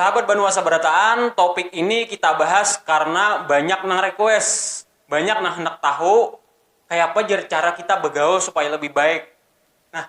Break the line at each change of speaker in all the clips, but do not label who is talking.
Sahabat Banua Sabarataan, topik ini kita bahas karena banyak nang request, banyak nang handak tahu kayapa jar cara kita bagaul supaya lebih baik. Nah,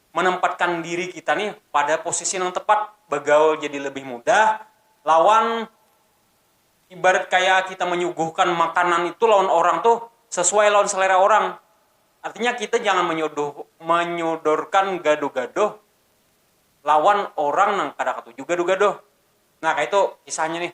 manempatkan diri kita nih pada posisi nang tepat, bagaul jadi lebih mudah lawan ibarat kaya kita manyuguhkan makanan itu lawan orang tuh sesuai lawan selera orang, artinya kita jangan manyodorkan gaduh-gaduh lawan orang nang kada katuju gaduh-gaduh, nah kaya itu kisahnya nih.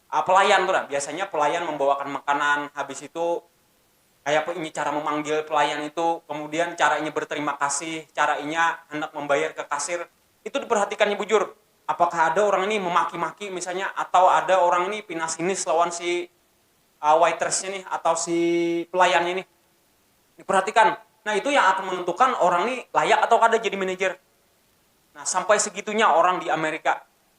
pelayan tu nah, biasanya pelayan membawakan makanan, habis itu kaya apa inya cara memanggil pelayan itu, kemudian cara inya berterima kasih, cara inya handak membayar ke kasir, itu diperhatikannya bujur, apakah ada orang ni memaki-maki misalnya atau ada orang ni pina sinis lawan si waitress nya nih atau si pelayan nya nih, diperhatikan nah itu yang akan menentukan orang ni layak atau kada jadi manager, nah sampai segitunya orang di amerika.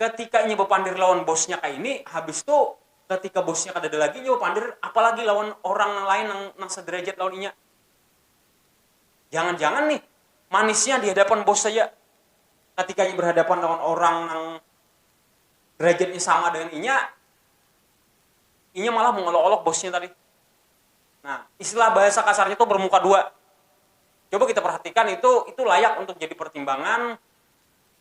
Ketika inya bapandir lawan bosnya kaini, habis tu ketika bosnya kadada lagi, inya bapandir apa lagi lawan orang nang lain nang nang saderajat lawan inya. Jangan-jangan nih manisnya di hadapan bos saja. Ketika inya berhadapan lawan orang nang derajatnya sama dengan inya, inya malah mengolok-olok bosnya tadi. Nah, istilah bahasa kasarnya tu bermuka dua. Coba kita perhatikan itu, itu layak untuk jadi pertimbangan.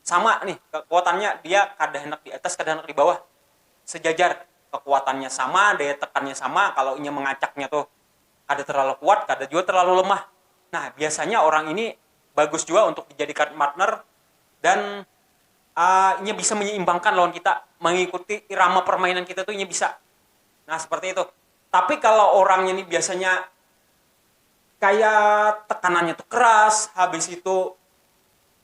Sama nih kekuatannya, dia kada handak di atas, kada handak di bawah, sejajar. Kekuatannya sama, daya tekannya sama, kalau inya mengacaknya tu kada terlalu kuat, kada jua terlalu lemah. Nah, biasanya orang ini bagus jua untuk dijadikan partner dan inya bisa menyeimbangkan lawan kita, mengikuti irama permainan kita tu inya bisa. Nah, seperti itu. Tapi kalau orangnya ni biasanya kaya tekanannya tu keras, habis itu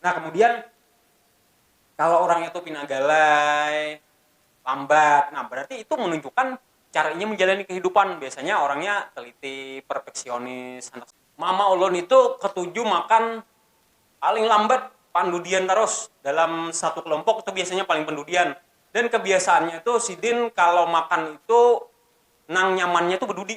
Nah kemudian kalau orang itu pina galai, lambat, nah berarti itu menunjukkan cara inya menjalani kehidupan, biasanya orangnya teliti, perfeksionis, handak. Mama ulun itu ketuju makan paling lambat pandudian tarus, dalam satu kelompok itu biasanya paling pendudian, dan kebiasaannya itu sidin kalau makan itu nang nyamannya itu bedudi.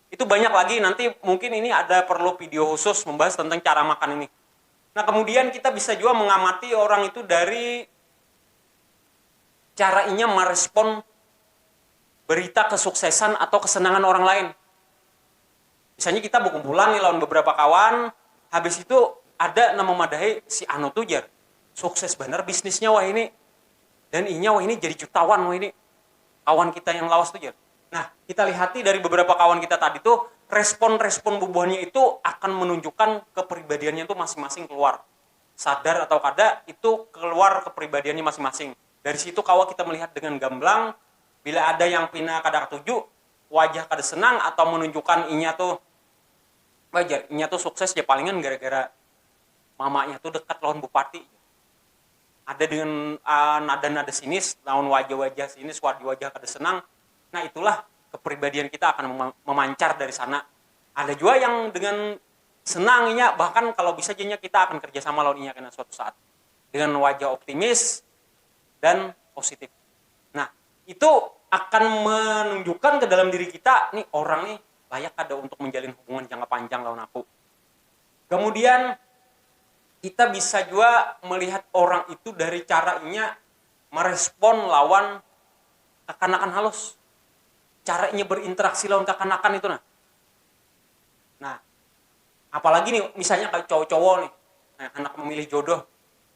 Itu banyak lagi, nanti mungkin ini ada perlu video khusus membahas tentang cara makan ini. Nah, kemudian kita bisa juga mengamati orang itu dari cara inya merespon berita kesuksesan atau kesenangan orang lain. Misalnya kita bekumpulan nih lawan beberapa kawan, habis itu ada nang memadahi si anu tu jar, sukses banar bisnisnya wahini dan inya wahini jadi jutawan wahini, kawan kita yang lawas tu jar. Nah, kita lihati dari beberapa kawan kita tadi tu, respon-respon bubuhannya itu akan menunjukkan kepribadiannya tu masing-masing keluar. Sadar atau kada, itu keluar kepribadiannya masing-masing. Dari situ kawa kita melihat dengan gamblang, bila ada yang pina kada katuju, wajah kada senang, atau menunjukkan inya tu, bah jar, inya tu sukses ja palingan gara-gara mamanya tu dekat lawan bupati. ada dengan nada-nada sinis, lawan wajah-wajah sinis, wajah-wajah kada senang, nah itulah kepribadian kita akan memancar dari sana, ada jua yang dengan senang inya bahkan kalo bisa ja inya kita akan kerja sama lawan inya kena suatu saat dengan wajah optimis dan positif, nah itu akan menunjukkan kedalam diri kita ni orang ni layak kada untuk menjalin hubungan jangka panjang lawan aku. Kemudian kita bisa jua melihat orang itu dari cara inya merespon lawan kakanakan halus, cara inya berinteraksi lawan kakanakan itu nah, nah apalagi nih misalnya kaya cowo-cowo nih kaya handak memilih jodoh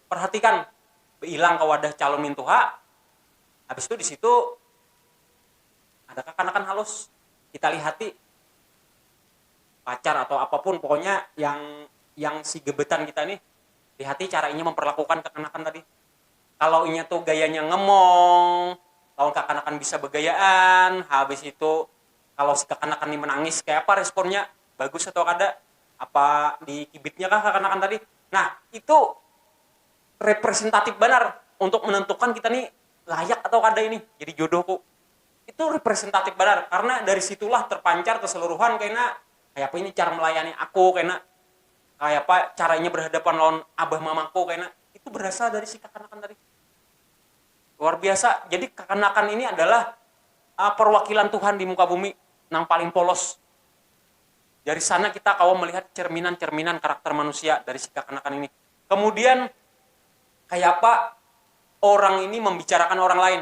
perhatikan beilang ke wadah calon mintuha habis tu disitu ada kakanakan halus kita lihati. pacar atau apapun pokoknya yang yang si gebetan kita nih lihati cara inya memperlakukan kekanakan tadi kalau inya tuh gayanya ngemong lawan kekanakan bisa begayaan habis itu kalau si kekanakan nih menangis kayak apa responnya bagus atau kada apa dikibitnya kah kekanakan tadi nah itu representatif banar untuk menentukan kita nih layak atau kada ini jadi jodohku. Itu representatif banar, karena dari situlah terpancar keseluruhan kena kayapa ini cara melayani aku kena, kayapa cara inya berhadapan lawan abah mamaku kena, itu berasal dari si kakanakan tadi. Luar biasa, jadi kakanakan ini adalah perwakilan Tuhan di muka bumi nang paling polos. Dari sana kita kawa melihat cerminan-cerminan karakter manusia dari si kakanakan ini. Kemudian kayapa orang ini membicarakan orang lain.